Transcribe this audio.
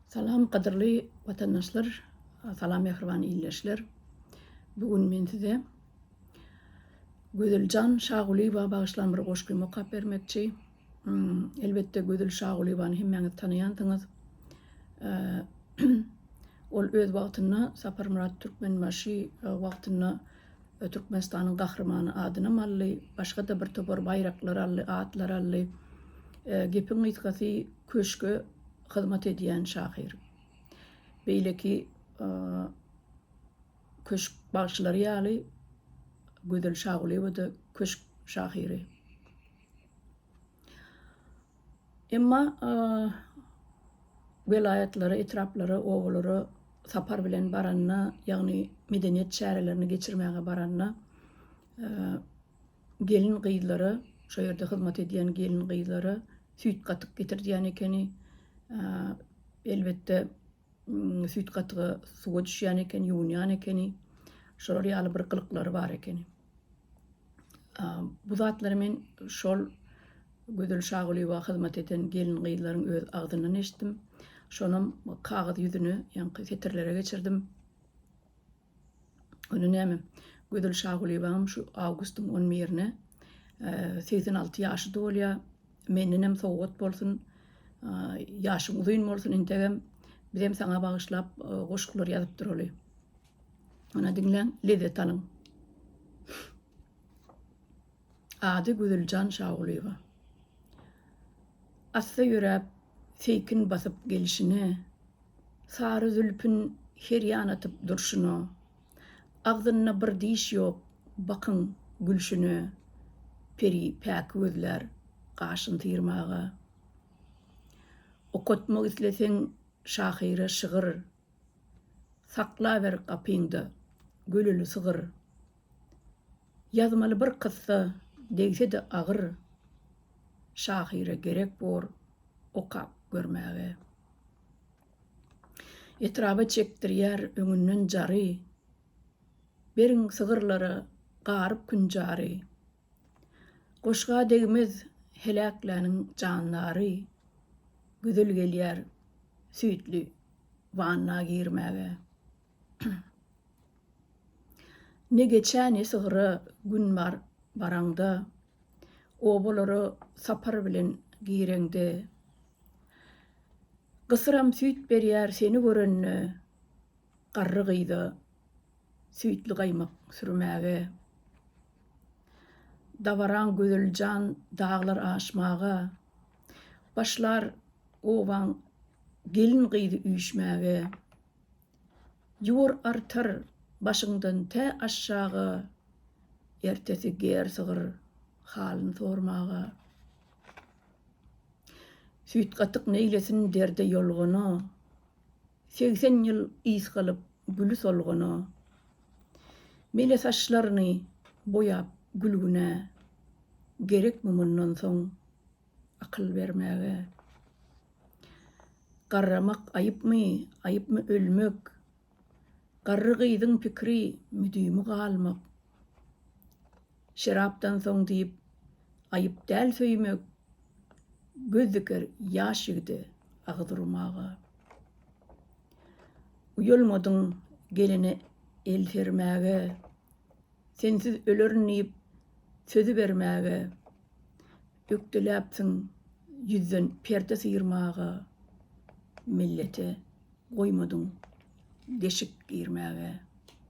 Salam gadyrly watandaşlar salam mähriban ildeşler bu gün men size Gözeljan Şagulyýewa bagyşlan bir goşgymy okap bermekçi elbetde Gözel Şagulyýewany hemmäňiz tanaýansyňyz ol öz wagtynda Saparmyrat Türkmenbaşy wagtynda Türkmenistanyň gahrymany adynam aldy başga-da bir topar baýraklar aldy atlar aldy gepiň gysgasy Köşge hyzmat edýän şahyr. Beýleki köşk bagşylary ýaly Gözel Şagulyýewa-da köşk şahyry. Emma welaýatlara, etraplara, obalara sapar bilen baranda, ýagny medeniýet çärelerini geçirmäge baranda Gelin-gyzlara, şo ýerde hyzmat edýän gelin-gyzlara süýt gatyk getirdýän ekeni. Elbetde, süýt gatygy suwa düşýän ekeni, ýuwunýan ekeni. Şolar ýaly bir gylyklary bar ekeni. Bu zatlary men şol Gözel Şagulyýewa hyzmat eden gelin-gyzlaryň öz agzyndan eşitdim. Şonam kagyz ýüzüne, ýaňky setirlere geçirdim. Ony näme, Gözel Şagulyýewanyň şu awgustyň on birine segsen alty ýaşy dolýar. Mendenem sowgat bolsun. Ýaşyň uzyn bolsun entegem. Bizem saňa bagyşlap goşgular ýazyp duraly. Ana diňläň, lezzet alyň. Ady Güzüljan Şagulyýewa. Assa ýöräp, seýkin basyp gelşine, Sary zülpün her ýana atyp durşuna, Agzynda bir diş ýok, bakyň, gülşüne, Peri päki gözlär, gaşyn syýrmaga. Okatmak isleseň şahyra şygyr, Saklaber gapyňda göleli sygyr. Ýazmaly bir kyssa degse-de agyr, şahyra gerek bor okap görmäge. Etraba çekdirýär öňünden jary, beriň sygyrlara garyp künjary. Goşga degmez heläkläniň jandary, gözel gelýär süýtli wanna girmäge. Ne geçä, ne sygyra gün bar baraňda, Obalara sapar bilen gireňde. Gysyram süýt berýär seni görende, Garry gyza süýtli gaýmak sürmäge. Dabaraň gözel jan daglar aşmaga, Başlar obaň gelin-gyzy üýşmäge. Ýuwur artar başyňdan tä aşaga, Ertesi ger sygyr halyn sormaga. Süýtgatyk neýlesin derde ýolgana, Segsen ýyl ys galyp güli solgana. Mele saçlaryny boýap gülgünä, Gerekmi mundan soň Akyl bermäge. Garramak aýypmy, aýypmy ölmek. Garry gyzyň pikiri, müdimi galmak. Şerapdan soň diýip, aýyp däl söýmek. Göz diker ýaş ýigide agyz urmaga. Uýalmadyň gelene el sermäge. Sensiz ölerin diýip sözi bermäge, Ökdeläpsiň ýüzden perde syýrmaga, Millete goýmadyň deşik girmäge.